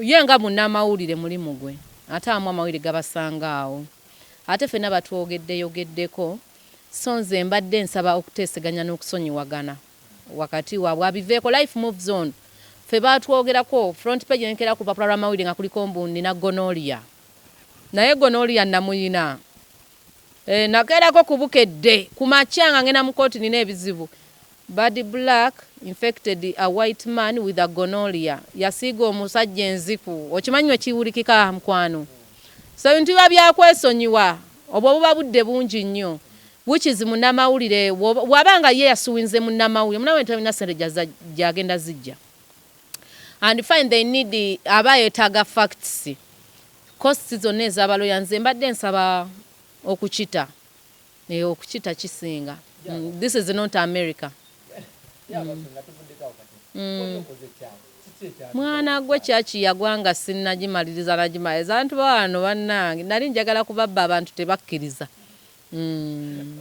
Ye nga munnamawulire mulimu gwe ate abamu amawulire gabasanga awo ate fenna batwogeddeyogeddeko so nze mbadde nsaba okuteeseganya n'okusonyiwagana wakati wabwe abiveeko life moves on ffe baatwogerako front page nenkera ku lupapula lw'amawulire nga kuliko mbu nnina gonorrhea naye gonorrhea namuyina. Eh, nakeerako ku Bukedde ku makya nga ngenda mu kkooti nina ebizibu. Bad Black infected a white man with a gonorrhea. Yasiiga omusajja enziku. Okimanyi bwe kiwulikika mukwano? So ebintu biba bya kwesonyiwa. Obwo buba budde bungi nnyo. Which is munnamawulire bw'oba, bw'aba nga ye yasuinze munnamawulire, munnamawulire talina ssente gy'azza, gy'agenda ziggya. And fine they need, aba yeetaaga facts. Costs zonna eza ba lawyer nze mbadde nsaba okukita eeh okukita kisinga this is not America uhmm. Mwana gwe church yagwa nga sinnagimaliriza nagimaliriza abantu bawano bannange nali njagala kubabba abantu tebakkiriza mm.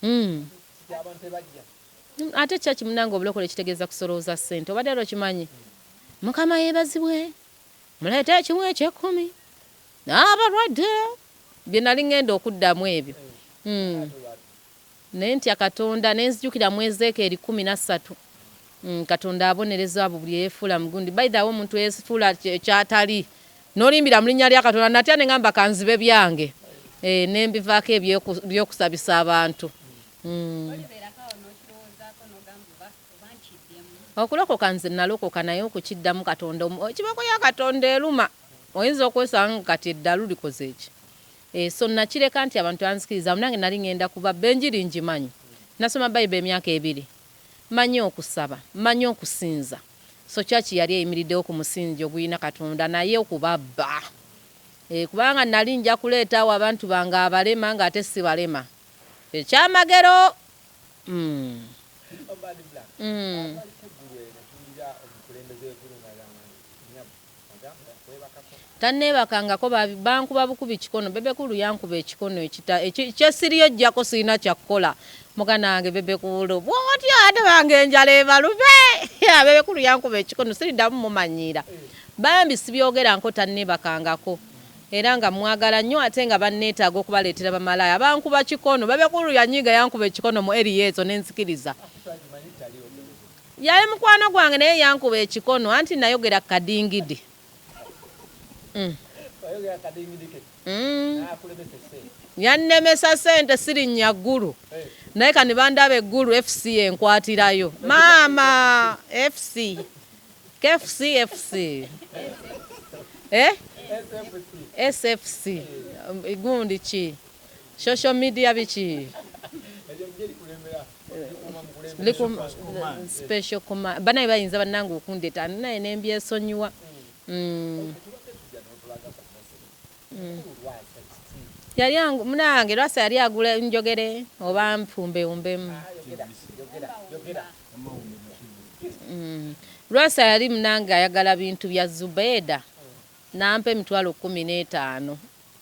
mm. ate church munange obulokole kitegeeza kusolooza ssente obadde era okimanyi mukama yebazibwe Muleete ekimu eky'ekkumi n'abalwadde. Bye nnali ŋŋenda okuddamu ebyo. Hmm. Ne ntya Katonda, ne nzijukira mu Ezeekeeri kkumi na ssatu, hmm, Katonda abonereza abo buli eyeefuula mugundi. By the way, omuntu eyeefuula ky'atali, n'olimbira mu linnya lya Katonda, nnatya ne ŋamba ka nzibe byange, eh, ne mbivaako eby'okusabisa abantu. Hmm. Okulokoka nze nalokoka naye okukiddamu katonda omu ekibooko ya katonda eluma oyinza okwesanga nga kati eddalu likozeki eeh so nakireka nti abantu tebanzikiriza nange nali ngenda kubabba enjiri njimanyi nasoma bible emyaka ebiri manyi okusaba manyi okusinza so church yali eyimiridewo ku musingi oguyina katonda naye okubabba eeh kubanga nali njakuleeta awo abantu bange abalema nga ate sibalema ekyamagero. Tanneebakangako bankuba bukubi kikono. Bebe Cool yankuba ekikono ekita ekyessiriyo ejjako sirina kya kukola. Muganda wange Bebe Cool bw'otyo ate bange enjala ebalube. Bebe Cool yankuba ekikono siriddamu mumanyiira. Bambi sibyogerangako tanneebakangako. era nga mwagala nyo ate nga banetaaga okubaleetera bamalaaya bankuba kikono babe kulu yanyiiga yankuba ekikono mu area ezo nenzikiriza yali mukwano gwange naye yankuba ekikono anti nayogera kukadingidi yannemesa sente sirinnya ggulu naye kani bandaba eggulu fc enkwatirayo maama fc KFC FC eh? SFC gundi ki social media biki special command banaye bayinza banange okundeta naye nembyesonyiwa mm. mm. yali munange lwasa yali agula njogere oba mpumbe umbemu Mm. Lwasa yali munange ayagala bintu bya Zubeda nampa emitwalo kumi n'etaano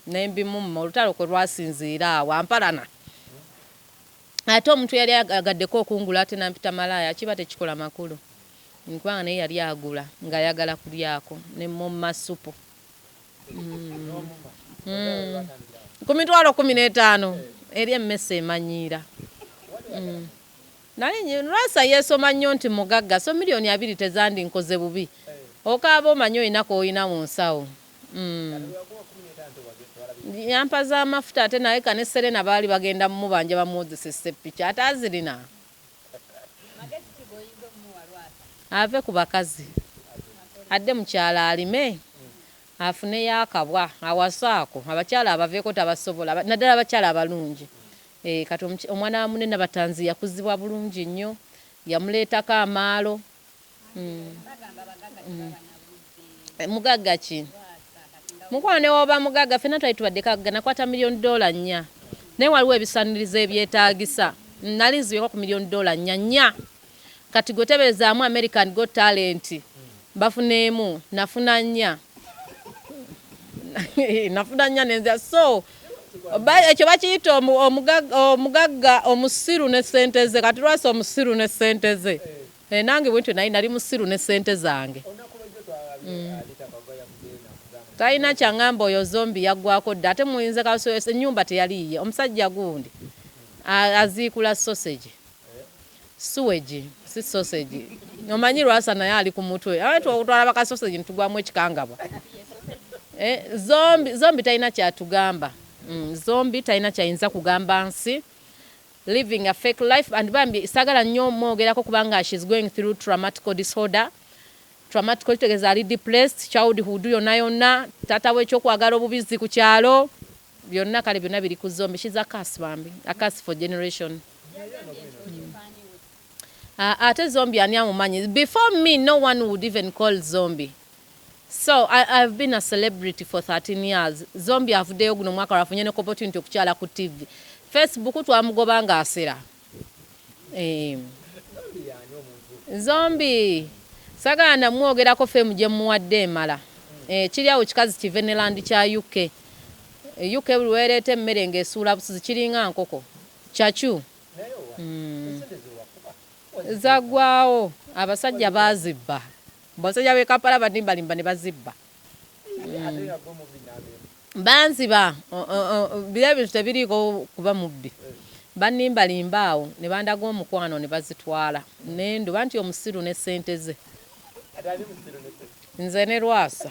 nembimumma olutalo kwe lwasinziira awo ampalana ate omuntu yali agaddeko okungula ate nampita malaaya kiba tekikola makulu nkubanga naye yali agula ng'ayagala kulyako ne mumma supu mm. mm. ku mitwalo kumi n'etaano eri emmese emanyiira mm. Nali nyi lwasa yesoma nnyo nti mugagga so million abiri tezandi nkoze bubi okaaba omanyi olina koyina munsawo uhmm yampa zamafuta ate naleka ne Serena baali bagenda mubanja bamuwozese ssepiki ate azirina Magezi ki goyinza omuwa lwasa. Ave ku bakazi adde mukyalo alime. Afuneyo akabwa awase ako abakyala abaveko tabasobola naddala abakyala abalungi eeh kati omwana wa mune Nabatanzi yakuzibwa bulungi nnyo yamuleetako amaalo uhmm mugagga ki mukwano newoba mugagga ffena twali tubadde kagga nakwata million dollar nnya naye waliwo ebisanirizo ebyetagisa nali nzibeko ku million dollar nnya nnya. Kati gwe tebezaamu American got talent bafuneemu nafuna nnya nafuna nnya nenza so ekyo bakiyita omugagga omusiru ne sente ze kati lwasa omusiru ne sente ze eh, nange bwentyo naye nali musiru ne sente zange mm. talina kyangamba oyo zombi yaggwako dda ate muyinza enyumba teyaliiye omusajja gundi aziikula sosegi Sewage si sausage. Omanyi Lwasa naye ali ku mutwe. Awe twakutwala baka sausage ntugwamu ekikangabwa. Eh, zombi, zombi talina kyatugamba. Mm, zombi talina kyayinza kugamba nsi. Living a fake life and bambi sagala nnyo mwogerako kubanga she's going through traumatical disorder. Traumatical kitegeza ali depressed, childhood yona yona, tata we kyokwagala obubizzi ku kyalo. Byonna kale byonna biri ku zombie she's a curse bambi a curse for generation uh, ate zombie ani amumanyi before me no one would even call zombie so I, I've been a celebrity for 13 years zombie avuddeyo guno mwaka lwafunye ne opportunity okukyala ku tv facebook twamugoba nga asera Eh. Zombie sagala namwogerako fame gyemuwadde emala eh, kiri awo kikazi kive ne land kya UK eh, UK buli wereeta emmere ng'esuula busuzi kiringa nkoko kyakyu mm. zagwawo abasajja bazibba basajja be Kampala banimbalimba ne bazibba banziba biri ebintu tebiriiko kuba mubbi baniimbalimba awo ne bandaga omukwano ne bazitwala ne nduba nti omusiru ne ssente ze nze ne lwasa